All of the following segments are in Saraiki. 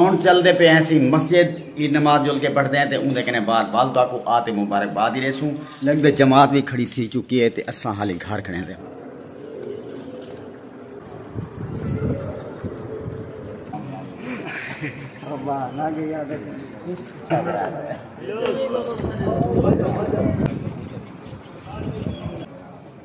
ہن چلدے پئے ہیسیں مسجد ای نماز جل کے پڑھدے ہیں تے اوندے کنے بعد والدہ کوں آ تے مبارک باد ای ڈیسوں۔ لگدے جماعت وی کھڑی تھی چکی ہے تے اساں حالی گھر کھڑے ہیسے۔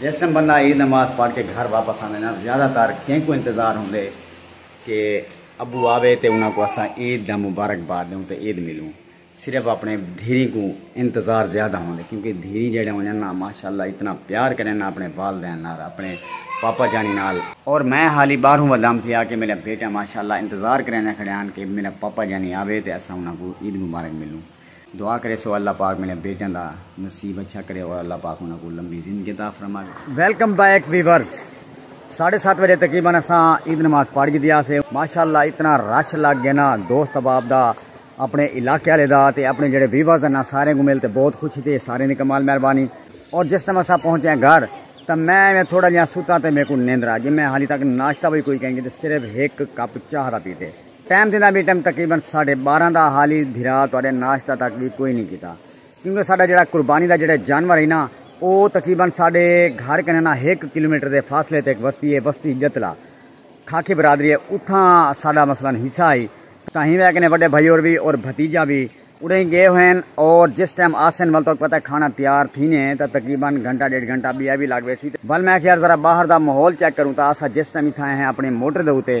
جس ٹیم بندہ عید نماز پڑھ کے گھر واپس آندے نا زیادہ تر کینکوں انتظار ہوندے کہ ابو آوے تے انہاں کوں اساں عید دا مبارکباد ڈیوں تے عید ملوں صرف اپنے دھیری کوں انتظار زیادہ ہوندے کیونکہ دھیری جیڑے ہونن نا ماشاءاللہ اتنا پیار کرن نا اپنے والدین نال اپنے پاپا جانی نال اور میں حالی باہروں ودام تھیا کہ میرا بیٹا ماشاءاللہ انتظار کریندے کھڑے ہن کہ میرا پاپا جانی آوے تے اساں انہاں کوں عید مبارک ملوں۔ دعا کریسو اللہ پاک میݙیاں بیٹیاں دا نصیب اچھا کرے اور اللہ پاک انہاں کوں لمبی زندگی عطا فرماوے۔ ویلکم بیک ویورز ساڑھے سات بجے تقریبا اساں عید نماز پڑھ گھدی آسے ماشاءاللہ اتنا رش لگ گئے نا دوست احباب دا اپنے علاقے والے دا تے اپنے جڑے ویورز ہیں نا سارے کو مل تے بہت خوشی تھی سارے دی کمال مہربانی اور جس ٹائم اساں پہنچے ہیں گھر تے میں تھوڑا جہاں ستا تے میرے کو نیندرا جی میں حالی تک ناشتہ بھی کوئی کہیں گے تے صرف ایک کپ چاہ دا پیتے ٹائم تھیندا وی ٹائم تقریبا ساڈھے بارہ دا حالی بھرا تہاڈے ناشتہ تک وی کوئی نی کیتا کیونکہ ساڈا جیڑھا قربانی دا جیڑھے جانور ہئی نا او تقریبا ساڈے گھر کنیں نا ہک کلومیٹر دے فاصلے تے ہک وستی ہے وستی جتلا کھاکھی برادری ہے اتھاں ساڈا مثلا حصہ ہئی تاں ہیویں کنیں وڈے بھائی اور وی اور بھتیجا وی اڈھیں گئے ہوئن اور جس ٹائم آسن ول تہاکوں پتہ ہے کھانا تیار تھینے تاں تقریبا گھنٹہ ڈیڈھ گھنٹہ بیا وی لگ ویسی ول میں آکھیا یار ذرا باہر دا ماحول چیک کروں تاں اساں جس ٹائم اتھاں آئے ہیں اپنی موٹر دے اتے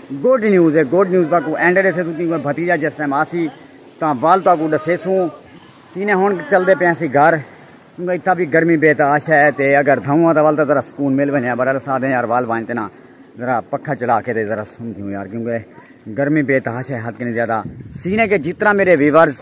گڈ نیوز اے گڈ نیوز تہاکوں اینڈ ڈیسے توں کیونکہ بھتیجا جس ٹائم آسی تاں ول تہاکوں ڈسیسوں سینے ہن چلدے پئے ہنسی گھر کیونکہ اتھا بھی گرمی بے تا آشا ہے تے اگر دھاؤں آ تاں ول تاں ذرا سکون مل ونجے بہرحال اساں آدھے یار ول وانج تے نا ذرا پکھا چلا کے تے ذرا سن تھیوں یار کیونکہ گرمی بے تا آشا ہے حد کنی زیادہ سینے کے جتنا میرے ویورز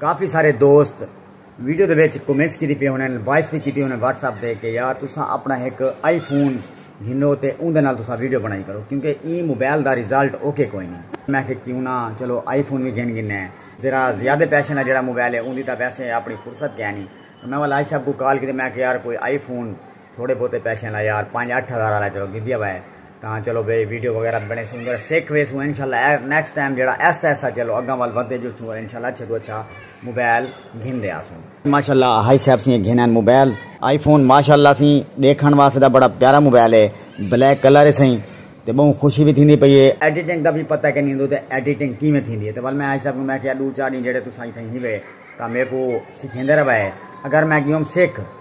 کافی سارے دوست ویڈیو دے وچ کمنٹس کیتی پے ہونن وائس وی کیتی ہونن واٹس ایپ تے کہ یار تساں اپنا ہک آئی فون گھنو تے اوندے نال تساں ویڈیو بنڑائی کرو کیونکہ ایں موبائل دا ریزلٹ اوکے کوئی نی میں آکھیا کیوں نہ چلو آئی فون وی گھن گھننے آں ذرا زیادہ پیسے نال جیہڑا موبائل ہے اوندی تاں ویسے اپنی فرصت کینی میں ول عائشہ ابو کال کیتی میں آکھیا یار کوئی آئی فون تھوڑے بہتے پیسے لا یار پانچ اٹھ ہزار والا چلو گدیا ہوا ہے تاں چلو بھائی ویڈیو وغیرہ بنے سوں ذرا سیکھ وے سوں انشاءاللہ نیکسٹ ٹائم جڑا ایسا ایسا چلو اگاں وال ودے جو سوں انشاءاللہ اچھے تو اچھا موبائل گھن دے آسوں ماشاءاللہ ہائی صاحب سی گھن ہیں موبائل آئی فون ماشاءاللہ سی دیکھن واسطے دا بڑا پیارا موبائل ہے بلیک کلر ہے سائیں تے بہوں خوشی بھی تھیندی پئی ہے ایڈیٹنگ دا بھی پتہ کہ نہیں ہندو تے ایڈیٹنگ کیویں تھیندی ہے تے ول میں ہائی صاحب کو میں کیا دو چار دن جڑے تساں تھیں ہی وے تاں میرے کو سکھیندے رہے اگر میں گیوم سکھ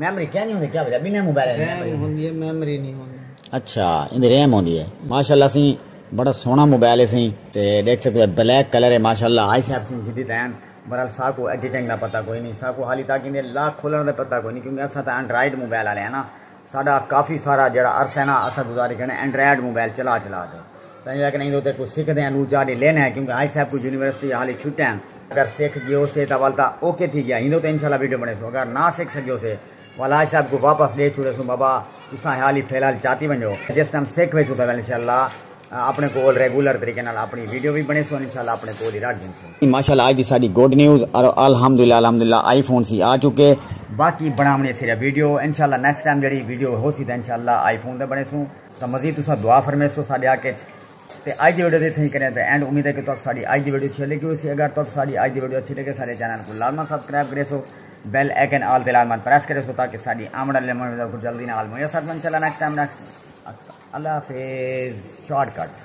میمری کیا نی ہوندی کیا وجہ بنہہ موبائل دی میمری ہوندی ہے میمری نی ہوندی۔ اچھا ایندی ریم ہوندی ہے ماشاءاللہ سی بڑا سونا موبائل ہے سی تے ڈیکھ سکدے ہو بلیک کلر ہے ماشاءاللہ آئی سیف سی جدید ہین برحال ساکو ایڈیٹنگ دا پتہ کوئی نی ساکو حالی تاک ایندے لاک کھولن دا پتہ کوئی نی کیونکہ اساں تاں اینڈرائیڈ موبائل آلے ہاں نا ساڈا کافی سارا جیڑا عرصہ ہے نا اساں گزاری کھڑے اینڈرائیڈ موبائل چلا چلا تے۔ تاں جو اکھ نئیں اتے کوں سکھ دیاں نو چا ڈے لین ہے کیونکہ آئی صاحب کوں یونیورسٹی یا حالی چھٹیں ہیں۔ اگر سکھ گیو سے تاں ول تاں اوکے تھی گیا ہندو تے انشاءاللہ ویڈیو بنے سوں اگر نہ سکھ سگیو سے ول آئی صاحب کوں واپس ڈے چھوڑے سوں بابا تساں حالی فی الحال چاتی ونجو جس ٹائم سکھ ویسوں تاں ول انشاءاللہ اپنے کول ریگولر طریقے نال اپنی ویڈیو وی بنے سوں انشاءاللہ اپنے کول ہی رکھ گھن سوں۔ ماشاءاللہ اج دی ساڈی گڈ نیوز ارو الحمدللہ الحمدللہ آئی فون سی آ چکے۔ باقی بناونی ہے صرف ویڈیو انشاءاللہ نیکسٹ ٹائم جیڑھی ویڈیو ہوسی تاں انشاءاللہ آئی فون تے بنے سوں۔ تاں مزید تساں دعا فرمیسو ساڈے حق اچ تے اج دی ویڈیو دی اتھائیں کریں تے اینڈ امید ہے کہ تہاکوں ساڈی اج دی ویڈیو اچھی لگی ہوسی اگر تہاکوں ساڈی اج دی ویڈیو اچھی لگے ساڈے چینل کوں لازمن سبسکرائب کریسو بیل آئیکن آل تے لازمن پریس کریسو تاکہ ساڈی آمڑ والے ویڈیو کو جلدی نال میسر انشاءاللہ نیکسٹ ٹائم نیکسٹ اللہ حافظ شارٹ کٹ